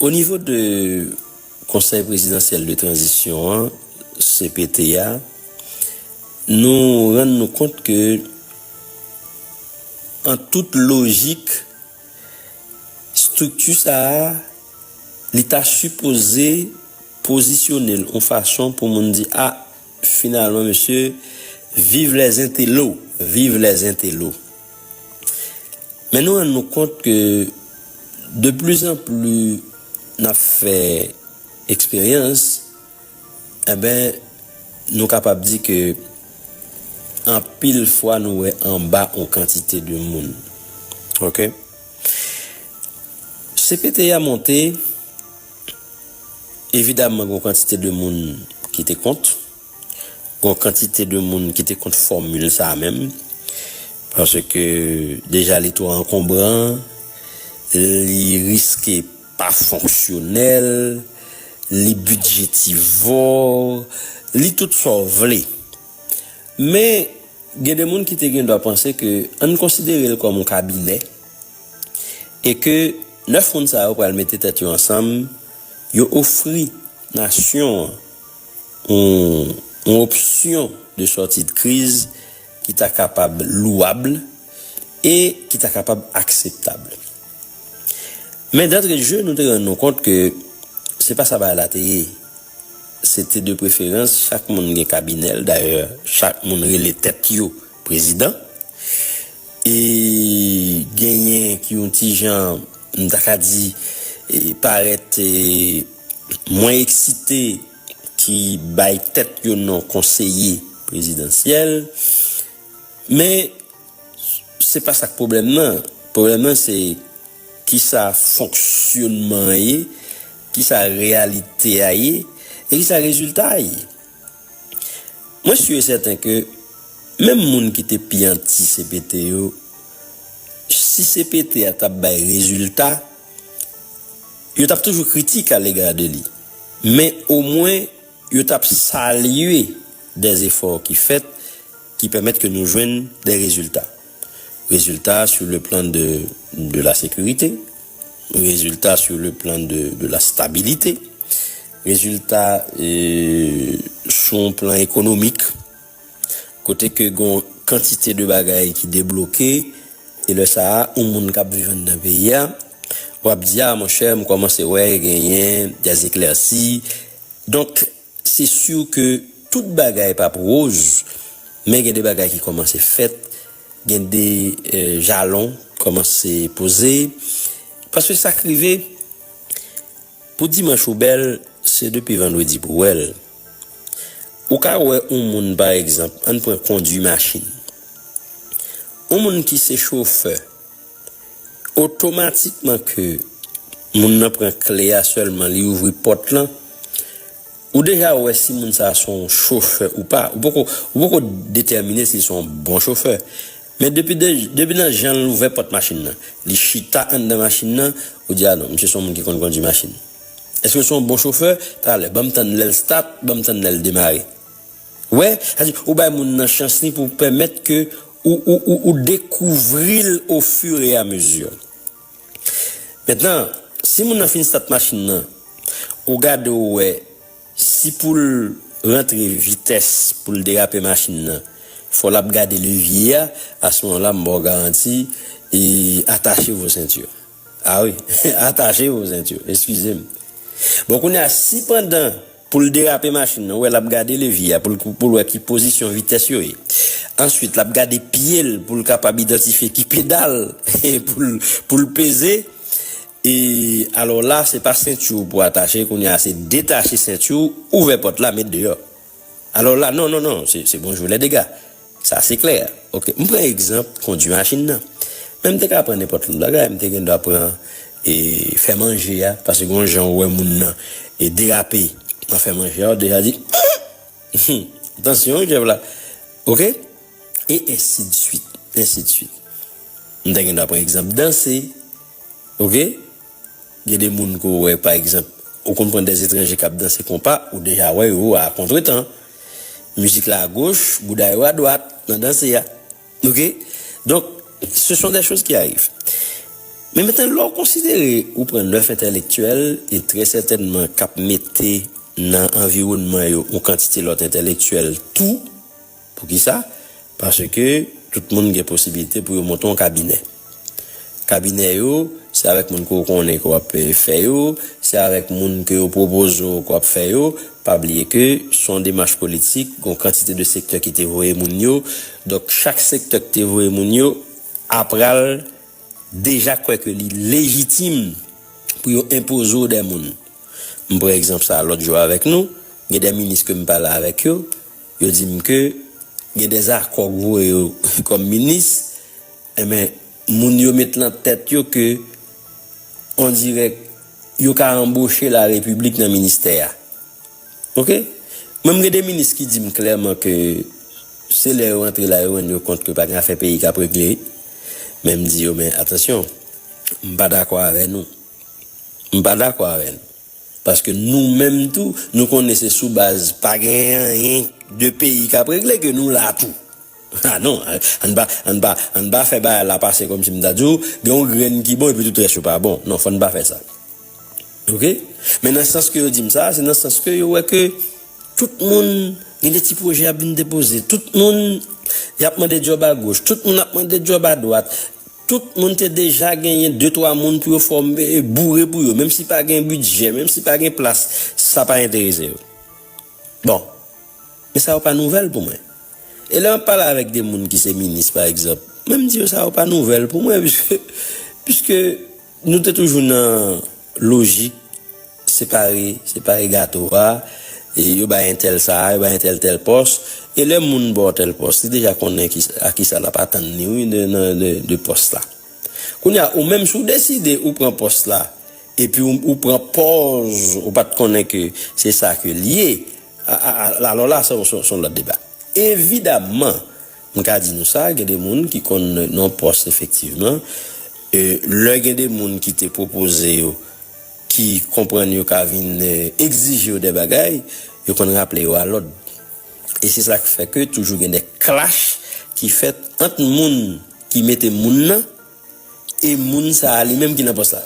O nivo de Konsèy Prezidansyèl de Tranzisyon an, cpt, a, nou rann nou kont ke an tout lojik estrikti sa a li ta sipoze pozisyone l yon fason pou moun di a finalman mesye viv lèzentelo viv lèzentelo Men nou rann nou kont ke de pli zan pli n ap fè eksperyans, enben nou kapab di ke anpil fwa nou wè anba yon kantite de moun. Ok. Cpt a monte, evidaman gen yon kantite de moun ki te kont. Gon kantite de moun ki te kont fòmil sa menm, paske deja li twò ankonbran, li riske pa fonksyonèl, li bidjetivò, li tout sa w vle. Men, gen de moun ki te gendwa panse ke an n konsidere l kòm yon kabinè e ke 9 moun sa yo pral mete tèt yo ansanm, yo ofri. Nasyon an, yon opsyon de sòti de kriz ki ta kapab louwab e ki ta kapab akseptab. Men dantre de je nou te rann nou kont ke se pa sa bagay la te ye. Se te de preferans chak moun gen kabinè l, dayè chak moun rele tèt yo. Prezidan. E genyen ki yon ti jan, m ta ka di, parèt mwen eksite ki bay tèt yo non konseye prezidansyèl. Men, se pa sa k pwoblèm nan. Pwoblèm nan se ki sa fonksyonman an ye, ki sa reyalite a ye e ki sa rezilta a ye. Mwen su e sèten ke menm moun ki te pi anti cpt yo, si cpt a t ap bay rezilta, yo t ap toujou kritik a lega de li. Men omwen yo t ap salye dè efò ki fèt ki pèmèt ke nou jwenn dè rezilta. Rezilta sur le plan de de la sécurité, rezilta sur le plan de de la stabilité, rezilta sou yon plan ekonomik kote ke gen yon kantite de bagay ki debloke e lè sa a yon moun k ap viv anndan peyi a w ap di a monchè m kòmanse wè genyen des éclaircies donk. Se sûr ke tout bagay p ap roz, men gen de bagay ki kòmanse fèt, gen de jalon k kòmanse poze. Paske sa k rive, pou dimanch ou bèl, se depi vandredi pou w wè l. Ou ka wè yon moun pa egzanp, ann pran kondui machin. Yon moun ki se chofè. Otomatikman ke moun nan pran kle a sèlman li ouvri pòt lan, ou deja wè si moun sa son chofè ou pa. Ou poko ou poko detèmine si li son bon chofè. Men depi de depi nan jan l ouvè pòt machin nan, li chita anndan machin nan, ou di a non misye son moun ki konn kondui machin. Èske l son bon chofè? Talè, ban m tann lè l stat, ban m tann lè l demare. Wè, sa di, ou bay moun nan chans li pou pèmèt ke ou, ou, ou, ou dekouvri l o fur et à mesure. Mentnan, si moun nan fin stat machin nan, ou gade ou wè si pou l rantre vitès pou l derape machin nan, fò l ap gade levye a, a ce moment là m ba w garanti, atache vos ceintures. Ah wi atache yo zent yo eskizem bon kounya si pandan poul derape machin nan ou wè lap gade levye a poul poul wè ki pozisyon vitès yo ye answit lap gade pyel poul kapab idantifye ki pedal poul poul peze e alò la se pa senti w pou atache kounya se detache senti w ouvè pòt la met deyò. Alò la, non, non, non, se bonjou lè dega. Sa se klè. Ok, m pran egzanp kondui machin nan. Men m te ka pran nenpòt lòt bagay. M te gendwa pran e fè manje a, paske gen yon jan ou wè moun nan e derape nan fè manje a, ou deja di, Humm! Atansyon wi jèf la. Ok? E ensidsuit, ensidsuit. M ta gendwa pran egzanp danse. Ok gen de moun ke w wè pa egzanp ou konn pran de etranje kap danse konpa ou deja wè yo a kontretan mizik la a goch bouda yo a dwat nan danse a ok donk se son de choz ki arive men mete lè w konsidere ou pran 9 entèlektyèl e trè sètènman kap mete nan anviwònman yo yon kantite lòt entèlektyèl tou. Poukisa? Paske tout moun gen posibilite pou yo monte yon kabinè. Kabinè yo, se avèk moun ke w konnen ke w ap fè yo, se avèk moun ke yo pwopoze w ke w ap fè yo. Pa bliye ke se yon demach politik, gen yon kantite de sektè ki te voye moun yo. Donk chak sektè ki te voye moun yo apral deja kwè ke li lejitim pou yo enpoze w dè moun. M pran egzanp sa a lòt jou avèk nou, gen dè minis ke m pale avèk yo, Yo di m ke gen des accords k voye yo kòm minis, enben moun yo met lan tèt yo ke on dirèk yo ka anboche la Repiblik nan ministè a. Ok? Mwen m gen de minis ki di m klèman ke se lè yo antre la yo rann yo kont ke pa gen afè peyi k ap regle, men m di yo men atansyon, m pa dakò avè nou. M pa dakò avè nou. Paske nou menm tou, nou konnen se sou baz pa gen anyen de peyi kap regle ke nou la tou. Ha non, ann pa, ann pa, ann pa fè bagay la pase kòmsi m ta di w, gen yon grenn ki bon epi tout rès yo pa bon. Non, fò n pa fè sa. Ok? Men nan sans ke yo di m sa, se nan sans ke yo wè ke. Tout moun gen de ti pwojè y ap vin depoze. Tout moun y ap mande djòb agoch. Tout moun ap mande djòb adwat. Tout moun te deja genyen de twa moun pou yo fòme, boure pou yo. Menm si pa gen bidjè, menm si pa gen plas, sa pa enterese yo. Bon, men sa yo pa nouvèl pou mwen. E lè m ap pale avèk de moun ki se minis pa egzanp, mwen di yo sa yo pa nouvèl pou mwen, piske, piske. Nou te toujou nan lojik separe, separe gato a, yo bay entèl sa, yo bay entèl tèl pòs, e lè moun ba w tèl pòs, li deja konnen a kisa l ap atann li wi de pòs la. Kounye a ou menm si w deside ou pran pòs la epi ou pran pòz ou pa t konnen ke se sa ke l ye, alò la se yon lòt deba. Evidaman! M ka di nou sa, gen de moun ki konn non pòs efektivman. Lè gen de moun ki te pwopoze yo ki konprann yo ka vin egzije yo de bagay, yo konn raple yo a lòd. E se sa k fè ke toujou gen de klach ki fèt ant moun ki mete moun nan e moun sa a li menm ki nan pòs la.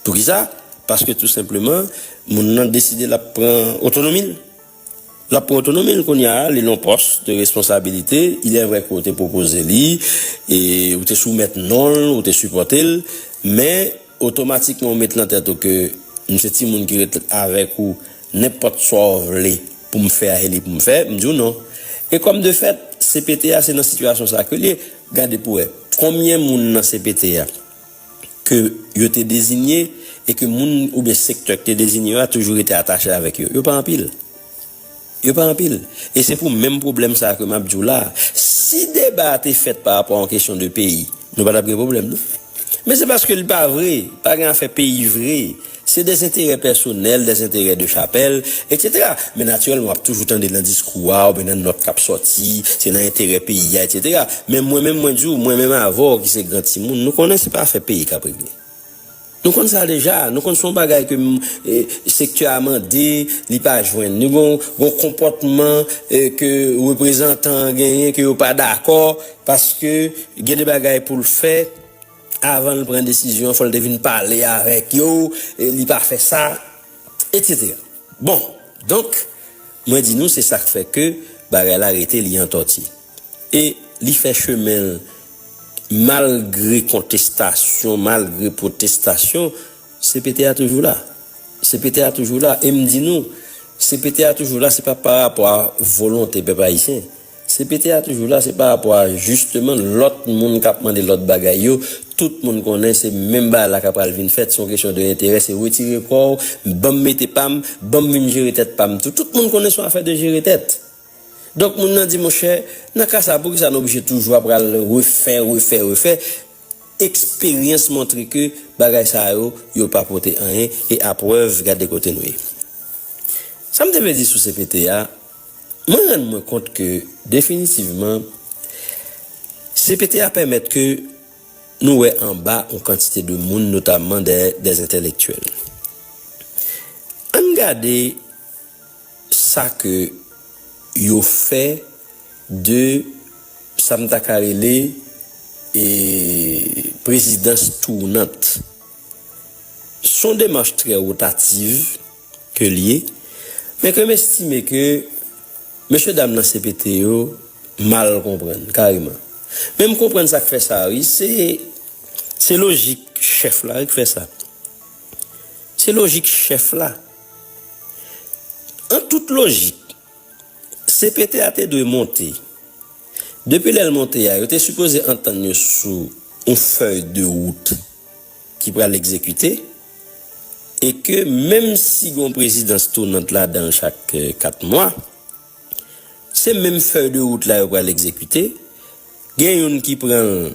Poukisa? Paske tou senpleman moun nan deside l ap pran otonomi l. L ap pran otonomi l kounye a, li nan yon pòs de responsabilite. Ilèvre ke w te pwopoze li, ou te soumèt non l, ou te sipòte l, men otomatikman ou met nan tèt ou ke m se timoun ki ret avèk ou, nenpòt sa w vle pou m fè a se li pou m fè, m di w non. E kòm de fèt, CPT a se nan sitiyasyon sa ke l ye. Gade pou w wè, konbyen moun nan CPT a? ke yo te dezinye e ke moun oubyen sektè ki te dezinye yo a toujou rete atache avèk yo. Yo pa anpil. Yo pa anpil. E se pou menm pwoblèm sa a ke m ap di w la a, si deba a te fèt pa rapò a yon kesyon de peyi, nou pa t ap gen pwoblèm non. Men se paske li pa vre, pa gen afè peyi vre. Se dezenterè pèsonèl, dezenterè de chapèl, etsetera. Men natirèlman w ap toujou tande nan diskou a oubyen nan nòt k ap sòti, se nan enterè peyi a, etsetera. Men mwen menm mwen di w, mwen menm avè w ki se gran timoun, nou konnen se pa afè peyi k ap regle. Nou konn sa deja. Nou konn se yon bagay ke sektè a mande, li pa jwenn. Li gen yon konpòtman ke reprezantan an genyen ke yo pa dakò paske gen de bagay pou l fè. Avan l pran desizyon an fò l te vin pale avèk yo, li pa fè sa, etsetera. Bon, donk, mwen di nou se sa k fè ke bagay la rete li antòti. E li fè chemen l malgre kontestasyon, malgre pwotestasyon, CPT a toujou la. CPT a toujou la. E m di nou, CPT a toujou la se pa parapò a volonte pèp ayisyen. Cpt a toujou la se pa rapò a jisteman lòt moun kap mande lòt bagay yo, tout moun konnen se menm bagay la ka pral vin fèt, se yon kesyon de enterè, se retire kòw, banm mete pam, banm vin jere tèt pam tou, tout moun konnen se yon afè de jere tèt. Donk moun nan di monchè, nan ka sa poukisa nou oblije toujou ap pral refè, refè, refè, eksperyans montre ke bagay sa yo, yo pa pote anyen e aprèv gade kote nou ye. Sam te vle di sou cpt a. Mwen rann mwen kont ke definitivman cpt a pèmèt ke nou wè anba yon kantite de moun notamman des entèlektyèl. Ann gade sa ke yo fè de sa m ta ka rele prezidans tournant. S on demach trè rotative. ke l ye, men ke m estime ke mesye dam nan cpt yo mal konprann kareman. Men m konprann sa k fè sa wi, se lojik chèf la wi k fè sa. Se lojik chèf la. An tout lojik, cpt a te dwe monte. Depi lè l monte a, yo te sipoze antann yo sou yon fèy de wout ki pral egzekite. e ke menm si gen yon prezidans tounant ladan l chak 4 mwa, se menm fèy de wout la yo pral egzekite, gen youn ki pran l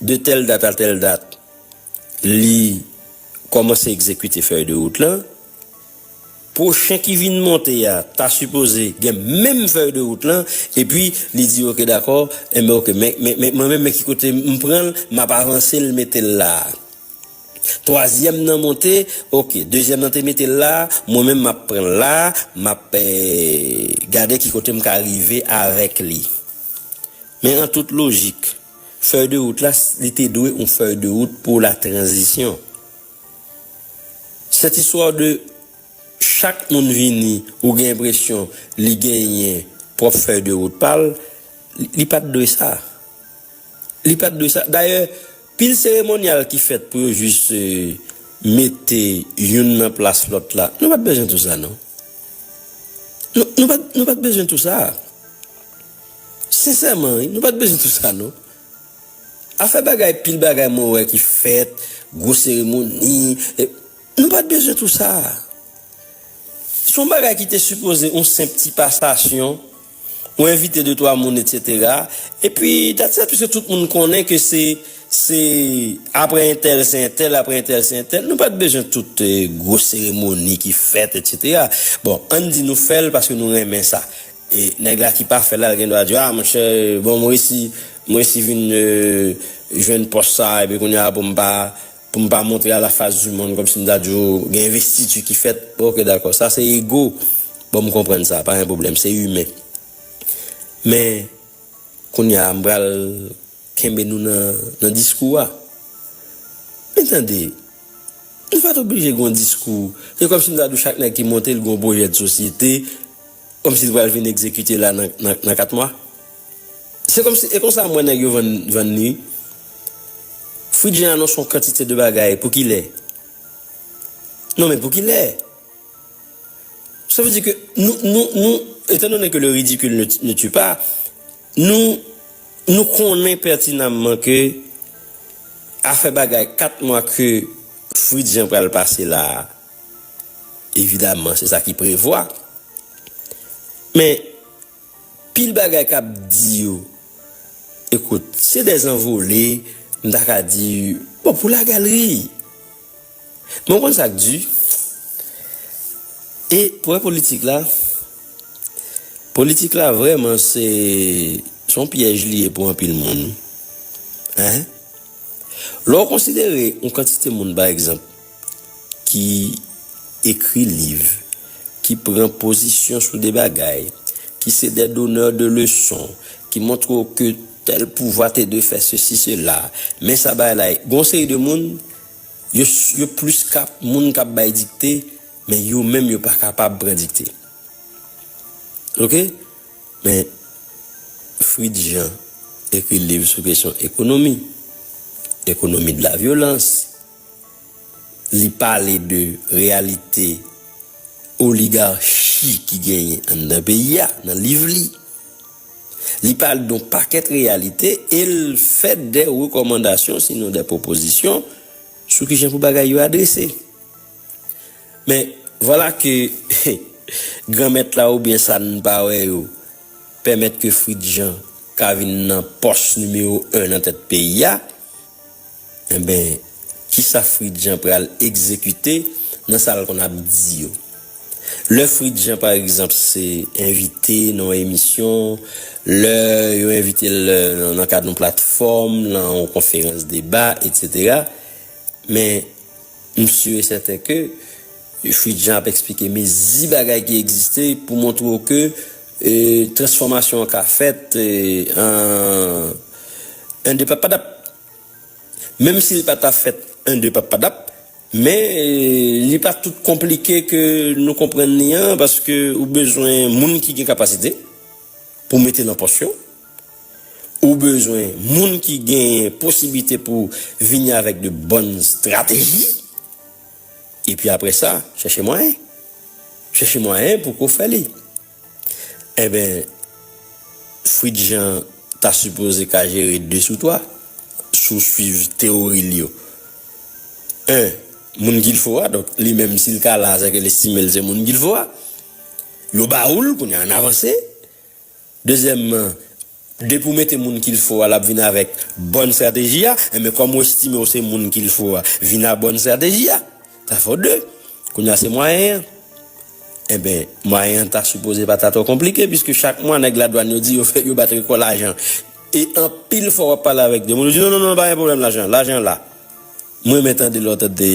de tèl dat a tèl dat li kòmanse egzekite fèy de wout lan, pwochen ki vin monte a ta sipoze gen menm fèy de wout lan epi li di ok dakò, enben ok men mwen menm men ki kote m pran l, m ap avanse l mete l la a. Twazyèm nan monte ok dezyèm nan te metel la mwen menm map pranl la map gade ki kote m ka rive avèk li men an tout lojik fèy de wout la li te dwe yon fèy de wout pou la tranzisyon cette histoire de chak moun vini ou gen enpresyon li genyen pwòp fèy de wout pal li pat dwe sa. Li pat dwe sa. Dayè, pil seremonyal ki fèt pou yo jis mete youn nan plas lòt la. Nou pat bezwen tou sa non. Nou pat, nou pat bezwen tou sa. Sensèman wi, nou pat bezwen tou sa non. Afè bagay, pil bagay mwen wè ki fèt, gwo seremoni, e, nou pat bezwen tou sa. Son bagay ki te sipoze yon senp ti pasasyon. ou envite de twa moun etc. Epi dat sa pwiske tout moun konnen ke se se apre entèl se entèl apre entèl se entèl nou pat bezwen tout gwo seremoni ki fèt etc. Bon ann di nou fèl paske nou renmen sa e nèg la ki pa fèl la l gen dwa di ah monchè bon m resi m resi vin jwenn pòs sa epi kounya pou m pa Pou m pa montre a la fas di mond kòmsi m ta di w gen envestiti ki fèt. Ok dakò, sa se ego. Bon m konprann sa, pa gen pwoblèm, se imen. Men, kounye a m pral kenbe nou nan diskou a. Men tande, nou pa t oblije gen yon diskou. Se kòmsi m ta di w chak nèg ki monte l gen yon pwojè de sosyete, kòmsi l pral vin egzekite la nan 4 mwa. Se komsi e konsa m wè nèg yo vann vann li wi. Fridje anons yon kantite de bagay pou kilè? Non men pou kilè? Sa vle di ke nou nou nou etan done ke le ridikil ne ne tue pa nou nou konnen pètinamman ke afè bagay 4 mwa ke Fritz Jean pral pase la a evidamman se sa ki prevwa men Pil bagay kap di yo ekout se des anvole m ta ka di bon pou la galerie men ou konn sak du e pou wè politik la politik la vreman se son pyèj li ye pou anpil moun hein lè ou konsidere yon kantite moun pa egzanp. ki ekri liv, ki pran pozisyon sou de bagay, ki se dè donè de leson, ki montre w ke tèl pouvwa te dwe fè sesi sela, men sa bagay la ye. Gen yon seri de moun, yo plis ka moun k ap bay dikte, men yo menm yo pa kapab pran dikte. Ok? Men Fritz Jean ekri liv sou kesyon ekonomi, ekonomi de la vyolans. Li pale de reyalite oligarchi ki genyen anndan peyi a nan liv li. Li pale de yon pakèt reyalite e l fè de rekòmandasyon sinon de pwopozisyon sou ki jan pou bagay yo adrese. Men, vwala ke Granmèt la oubyen sa n pa wè yo pèmèt ke Fritz Jean ka vin nan pòs nimewo 1 nan tèt peyi a. Enben, kisa Fridjan pral egzekite nan sa l konn ap di yo? Lè Fridjan, pa egzanp, se envite nan yon emisyon, lè yo envite l nan kad yon platfòm, nan yon konferans deba, etsetera, men, m si e sèten ke Fridjan ap eksplike mezi bagay ki egziste pou montre w ke transfòmasyon an ka fèt an. An depa, pa t ap Menm si l pa ta fèt en de papadap, men li pa tout konplike ke nou konprann li an paske ou bezwen moun ki gen kapasite pou w mete nan pòs yo, ou bezwen moun ki genyen posiblite pou vini avèk de bòn strateji, epi apre sa, chèche mwayen. Chèche mwayen pou ke w fè li. Enben Fritz Jean ta sipoze ka jere 2 sou 3, si w swiv teyori l yo. 1 moun ki l fo a, donk li menm si l ka la a sèke l estime l se moun ki l fo a. Yo ba ou l, kounye a an avanse. Dezyèmman. Depi w mete moun kil fo a lap vin avèk bòn strateji a, enben kòm ou estime w se moun kil fo a vin a bòn strateji a, sa fè w 2, kounye a se mwayen an, enben mwayen an ta sipoze pa ta twò konplike piske chak mwa nèg ladwàn yo di yo bat rekò lajan e anpil fwa wap pale avèk 2 moun yo di non non non pa gen pwoblèm lajan, lajan la. M renmen tande lè w tande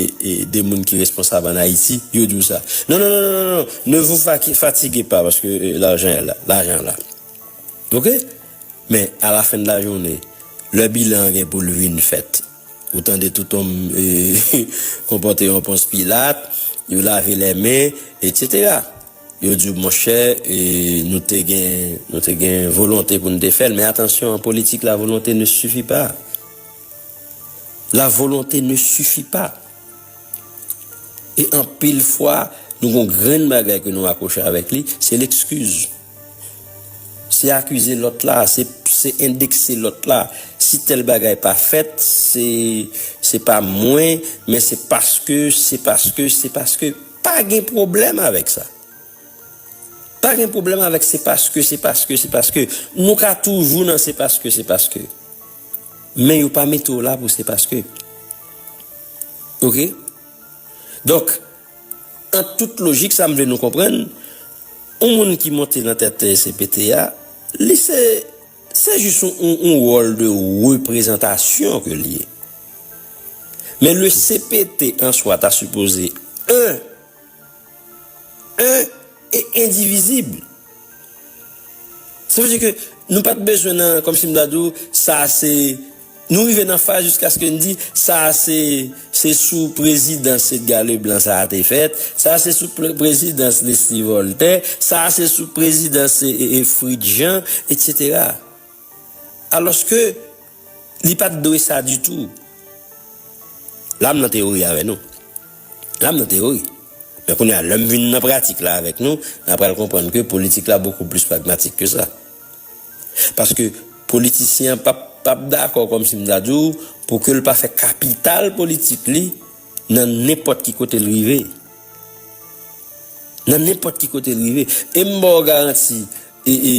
de moun ki responsab an Ayiti, yo di w sa. Non, non, non, non, non, non, ne vous fatiguez pas paske lajan an la, lajan an la. Ok? Men, a la fen de la jounen, lè bilan an gen pou l vin fèt, ou tande touton konpòte an Pons Pilat, yo lave lè men, etsetera. Yo di w, monchè, nou te gen, nou te gen volonte pou nou te fè l, men atansyon, an politik la volonte ne suffit pas. La volonté ne suffit pas. E anpil fwa, nou gon grenn bagay ke nou akwoche avèk li, se lekskiz. Se akize lòt la, se endekse lòt la. Si tèl bagay pa fèt, se se pa mwen, men se paske, se paske, se paske. Pa gen pwoblèm avèk sa. Pa gen pwoblèm avèk se paske, se paske, se paske. Nou ka toujou nan se paske, se paske. Men yo pa mete w la pou se paske ok donk an tout lojik sa m vle nou konprann yon moun ki monte nan tèt cpt a li se se jis yon wòl de reprezantasyon ke l ye men le cpt an swa ta sipoze 1. 1 e endivizib. Sa vle di ke nou pa t bezwen nan, kòm si m ta di w, sa a se, nou rive nan faz jiskaske n di, sa a se, se sou prezidans Edga Leblan sa a te fèt, sa a se sou prezidans Leslie Voltè, sa a se sou prezidans Fritz Jean, etsetera. Alòske li pa t dwe sa ditou. La m nan teyori avè nou. La m nan teyori. Men kounye a, lè m vin nan pratik la avèk nou, na pral konprann ke politik la bokou plis pragmatik ke sa. Paske politisyen an pa p dakò, kòm si m ta di w, pou ke l pa fè kapital politik li nan nenpòt ki kote l rive. Nan nenpòt ki kote l rive. E m ba w garanti, e, e.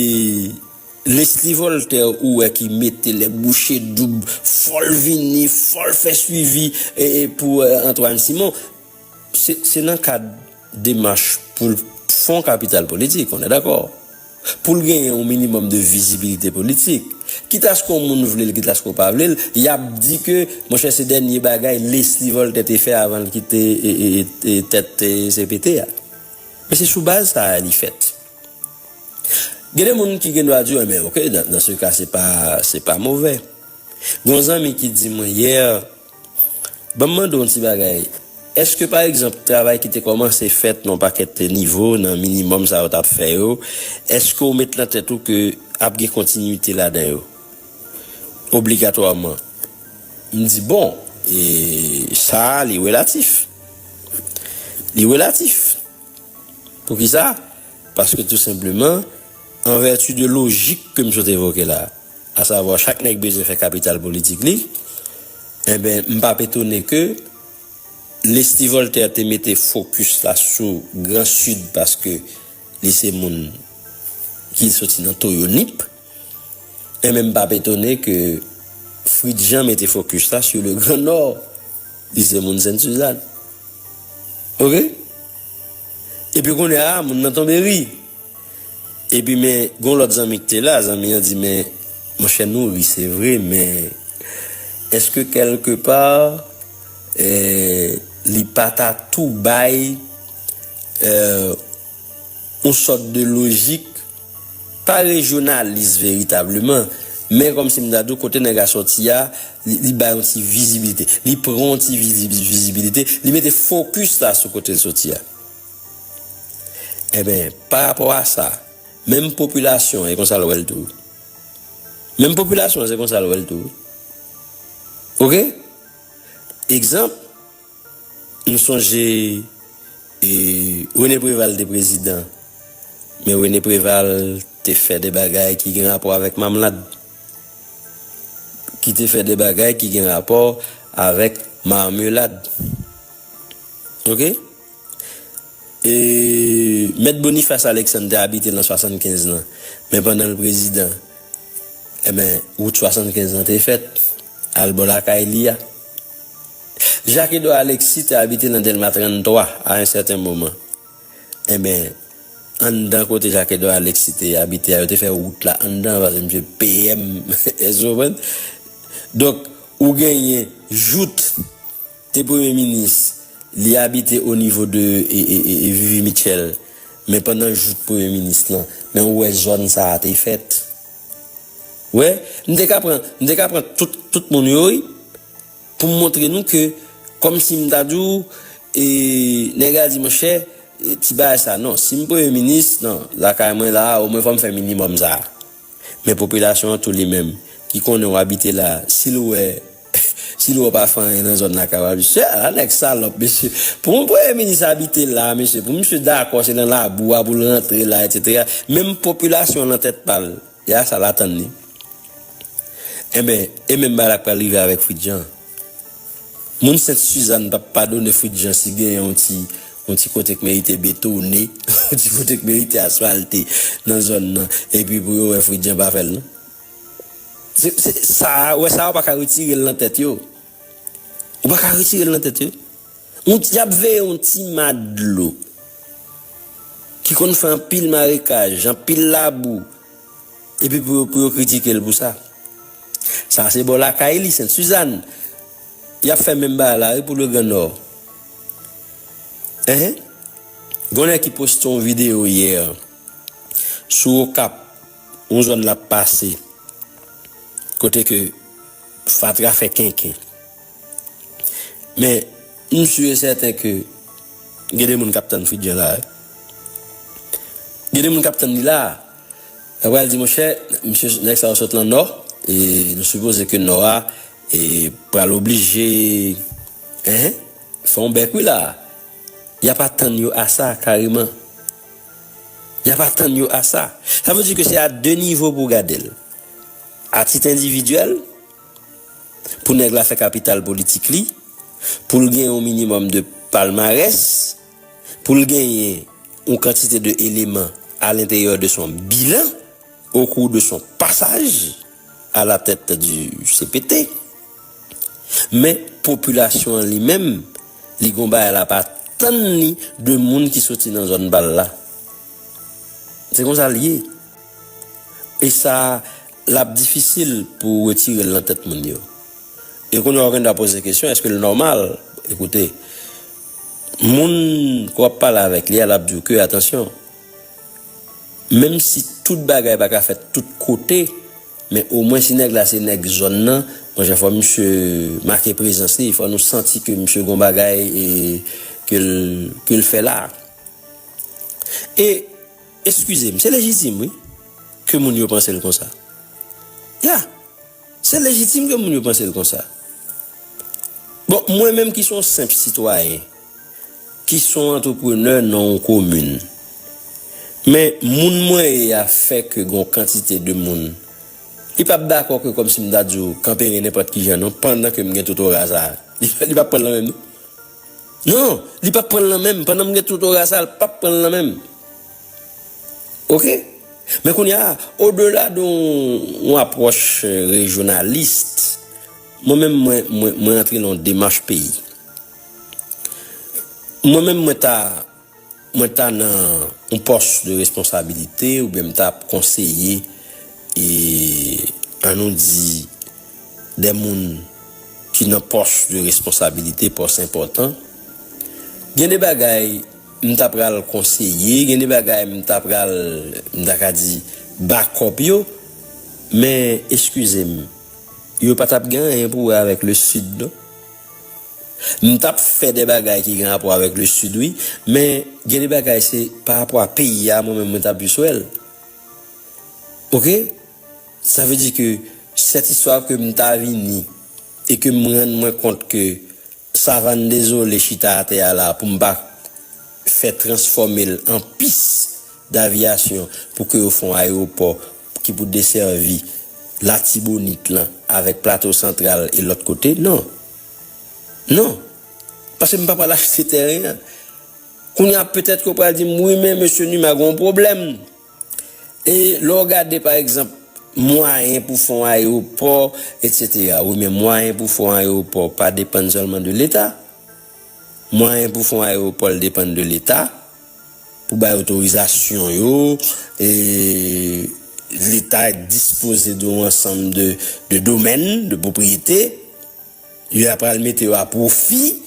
Lesly Voltaire ou wè ki mete lè bouche doub fòl vini fòl fè swivi pou Antoine Simon se nan kad demach poul k fon kapital politik onè dakò poul genyen yon minimòm de vizibilite politik kitaske yon moun vlel kitaske ou pa vlel yap di ke monchè se dènye bagay Lesly Voltaire te fè avanl kite tèt cpt a men se sou baz sa li fèt. Gen de moun ki gen dwa di w enben ok nan se ka se pa se pa movè. Gen yon zanmi ki di mwen yè ban m mande w yon ti bagay eske pa egzanp travay ki te kòmanse fèt nan yon pakèt nivo nan minimòm sa yo t ap fè yo eske w met nan tèt ou ke ap gen kontinite ladan yo obligatwaman? M di bon e sa li relatif li relatif. Poukisa? Paske tou senpleman, an vèti de lojik ke m sot evoke la, asavwa chak nèg bezwen fè kapital politik li, enben m pa p etone ke Leslie Voltaire te mete fokis la sou Gran Sid paske li se moun ki soti nan toyo nip, enben m pa p etone ke Fritz Jean mete fokis la sou le Gran Nò, li se moun Sent Suzann. Ok epi kounye a moun nan tonbe ri epi men gon lòt zanmi ki te la zanmi an di men monchè nou ri se vre men eske kèlke pa li pa ta tou bay yon sòt de lojik Pare jounalis veritableman, men kòm si m ta di w kote nèg la sòti a, li bay yon ti vizibilite. Li pran yon ti vizibilite, li mete fokis la sou kote l sòti a. Enben, pa rapò a sa, menm popilasyon an e konsa l wè l tou. Menm popilasyon an se konsa l wè l tou. Ok? Egzanp. Nou sonje Rene Preval te prezidan, men Rene Preval te fè de bagay ki gen rapò avèk mamlad, ki te fè de bagay ki gen rapò avèk marmelad. Ok? E Mèt Boniface Alexandre te abite lan 75 lan, men pandan l prezidan, enben wout 75 lan te fèt al bò lakay li a. Jacques Edouard Alexis te abite nan Dèlma 33 a yon sèten moman. Enben, anndan kote Jacques Edouard Alexis te abite a, yo te fè wout la anndan paske misye te PM. Èske ou konprann? Donk, ou genyen Jouthe te premye minis, li abite o nivo de Vivi Mitchell, men pandan Jouthe premye minis lan, men ou wè zòn sa a te fèt. Ou wè? M te ka pran, m te ka pran tout, tout moun yo wi. Pou m montre nou ke kòm si m ta di w e nèg la di monchè ti bagay sa non si m premye minis nan lakay mwen la a omwen fò m fè minimòm sa a men popilasyon an tou li menm ki konnen w abite la a si l wè si l wè w pa fè anyen nan zòn lakay w la mesye a la nèg salòp mesye pou yon premye minis abite la a mesye pou misye dakò se nan labou a pou l rantre la etsetera menm popilasyon an nan tèt pa l e a sa l atann li. Enben, e menm bagay la pral rive avèk Fritjean. Moun Sent Suzanne pap padone Fritjean si gen yon ti yon ti kote k merite betone, yon ti kote k merite asfalte nan zòn nan epi pou yo wè Fritjean pa fè l non. Se se sa a, wè sa a ou pa ka retire l nan tèt yo. Ou pa ka retire l nan tèt yo. Yon ti ap veye yon ti ma dlo ki konn fè anpil marekaj, anpil labou, epi pou yo kritike l pou sa. Sa se bò lakay li, Sent Suzanne. Y ap fè menm bagay la wi pou Legran Nò. Enhen. Gen yon nèg ki poste yon videyo yè sou Okap, yon zòn l ap pase, kote ke fatra fè kenken. Men, m su e sèten ke gen de moun k ap tann Fridjan la a. Gen de moun k ap tann li la a. Yo pral di, monchè, msye, nèg sa yo sot lan Nò, e nou sipoze ke Nò a pral oblije fè yon bèk wi la a. Y ap atann yo a sa kareman. Y ap atann yo a sa. Sa vle di ke se a de nivo pou w gade l. A tit endividyèl. pou nèg la fè kapital politik li, pou l gen yon minimòm de palmarès, pou l genyen yon kantite de eleman alenteryè de son bilan okou de son pasaj alatèt di cpt. Men popilasyon an li menm, li gon bagay l ap atann li de moun ki soti nan zòn pa l la. Se konsa l ye. E sa L ap difisil pou ou retire l nan tèt moun yo. E kounye a ou gen dwa poze kesyon, èske l nòmal? Ekoute, moun ke w ap pale avèk li a, l ap di w ke, atansyon, menm si tout bagay pa ka fèt tout kote, men omwen si nèg la se nèg zòn nan, bon jan fò misye make prezans li, fò nou santi ke misye gen yon bagay ke l fè la a. E. Eskizem, se lejitim wi ke moun yo panse l konsa. Ya! Se lejitim ke moun yo panse l konsa. Bon, mwen menm ki son senp sitwayen, ki son antreprenè nan yon komin, men moun mwen ye a fè ke gon kantite de moun, li pap dakò ke kòmsi m ta di w kanperen nenpòt kijan non, pandan ke m gen totora sa a. Li pap pran l nan menm non. Non li pap pranl nan menm pandan m gen tout ora sa l pap pranl nan menm ok men kounya o dela de yon apwòch rejyonalist mwen menm mwen antre nan yon demach peyi mwen menm mwen ta Mwen ta nan yon pòs de responsabilite oubyen m ta ap konseye e an nou di de moun ki nan pòs de responsabilite, pòs enpòtan, gen de bagay m ta pral konseye, gen de bagay m ta pral, m ta ka di bakòp yo, men eskize m, yo pa t ap gen anyen pou wè avèk le Sid non. M tap fè de bagay ki gen rapò avèk le sud wi men gen de bagay se pa rapò a peyi a mwen menm mwen ta plis wèl ok sa vle di ke sèt istwa ke m ta vini e ke m rann mwen kont ke savann dezole chita atè a la pou m pa fè transfòme l an pis daviyasyon pou ke yo fon ayewopò ki pou desèvi latibonit lan avèk plato santral e lòt kote non. Non. Paske m pa pral achte tèren an. Kounye a petèt ke w pral di m, wi men mesye Numa gen yon pwoblèm. E lè w gade pa egzanp mwayen pou fè yon ayewopò etsetera, wi men mwayen pou fè yon ayewopò pa depann sèlman de leta. Mwayen pou fè yon ayewopò l depann de leta. Pou bay otorizasyon yo, Leta dispoze de yon ansanm de domèn, de pwopriyete, yo ap pral mete yo a pwofi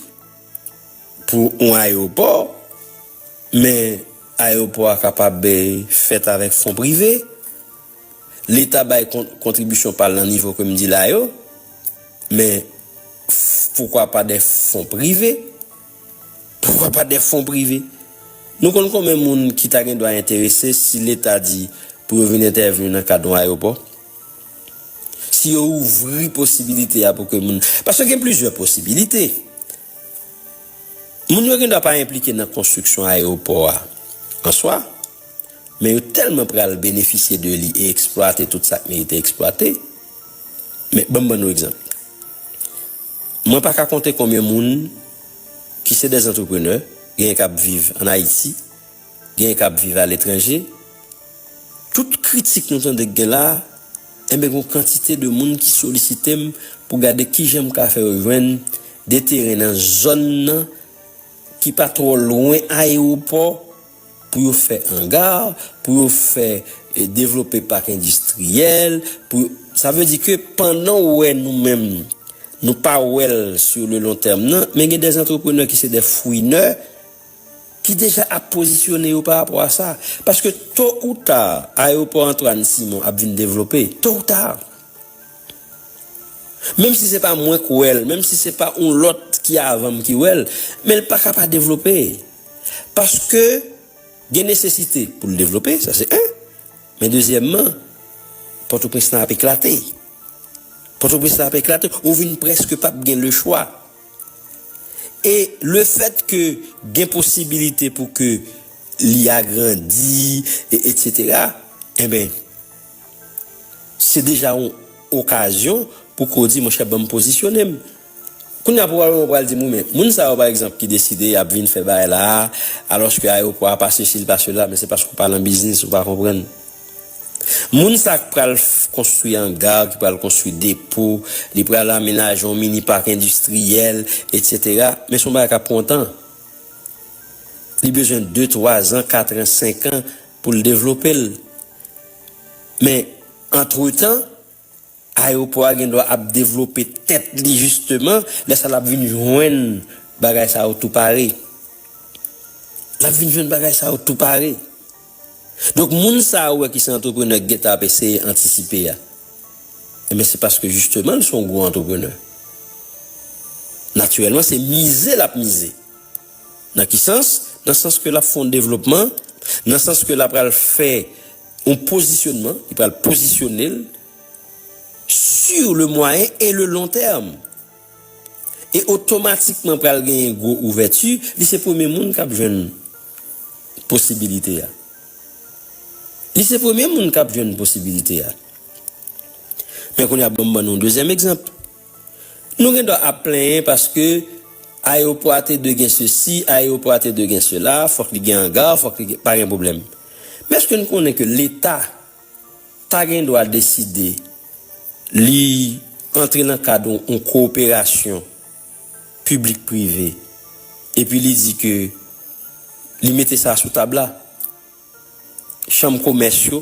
pou yon ayewopò, men ayewopò a kapab fèt avèk fon prive. Leta bay kontribisyon pa l nan nivo ke m di la yo, men poukwa pa de fon prive. Poukwa pa de fon prive? Nou konn konben moun ki ta gen dwa enterese si leta di pou yo vin entèvni nan kad yon ayopò? Si yo ouvri posibilite a pou ke moun, paske gen plizyè posibilite. Moun yo gen dwa pa enplike nan konstriksyon ayopò a an swa, men yo tèlman pral benefisye de li e eksplwate tout sa k merite eksplwate. Men, ban m ban nou egzanp. Mwen pa ka konte konbyen moun ki se des entrepreneurs, genyen k ap viv an Ayiti, genyen k ap viv a letranje, tout kritik nou tande k gen la, enben gon kantite de moun ki solisite m pou gade kijan m ka fè yo jwenn de teren nan zòn nan ki pa twò lwen ayewopò, pou yo fè anga, pou yo fè devlope pak endistriyèl, pou yo, sa vle di ke pandan ou wè nou menm nou pa wè l sou le lon tèm nan, men gen dè antreprenè ki se dè fouinè ki deja ap pozisyone yo pa rapò a sa. Paske to ou ta, ayewopò Antwàn Simon ap vin devlope, to ou ta. Menm si se pa mwen k wè l, menm si se pa yon lòt ki avan m ki wè l, men l pa ka pa devlope. Paske gen nesesite pou l devlope, sa se 1. Men dezyèmman, Pòtoprens lan ap eklate. Pòtoprens lan ap eklate, ou vin prèske pa p gen lechwa. E lefèt ke gen posibilite pou ke li agrandi, etsetera, enben, se deja yon okazyon pou ke w di monchè ban m pozisyone m. Kounye a pwobableman ou pral di m wi men moun sa yo pa egzanp ki deside y ap vin fè bagay la a alòske ayewopò a pa sesi l pa sela men se paske ou pa nan biznis ou pa konprann moun sa k pral konstwi anga ki pral konstwi depo li pral amenaje yon mini pak endistriyèl etsetera men se yon bagay k ap pran tan li bezwen de twa zan katran senkan pou l devlope l men antretan. Ayewopò a gen dwa ap devlope tèt li jisteman, lè sa l ap vin jwenn bagay sa yo tou pare. L ap vin jwenn bagay sa yo tou pare. Donk moun sa a ou wè ki se antreprenè ki gen tan ap eseye antisipe a, enben se paske jisteman l se yon gwo antreprenè. Natirèlman se mize l ap mize. Nan ki sans? Nan sans ke l ap fè yon devlopman, nan sans ke l apral fè yon pozisyonman, li pral pozisyone l, sur le moyen et le long terme. E otomatikman pral genyen gwo ouvèti, li se premye moun kap jwenn posibilite a. Li se premye moun kap jwenn posibilite a. Men kounye a banm ban nou yon dezyèm egzanp. Nou gen dwa ap plenyen paske ayewopò a te dwe gen sesi, ayewopò a te dwe gen sela, fòk li gen anga, fòk li gen, pa gen pwoblèm. Men èske nou konnen ke leta. ta gen dwa deside li antre nan kad yon kowoperasyon piblik-prive epi li di ke li mete sa sou tab la, chanm komès yo.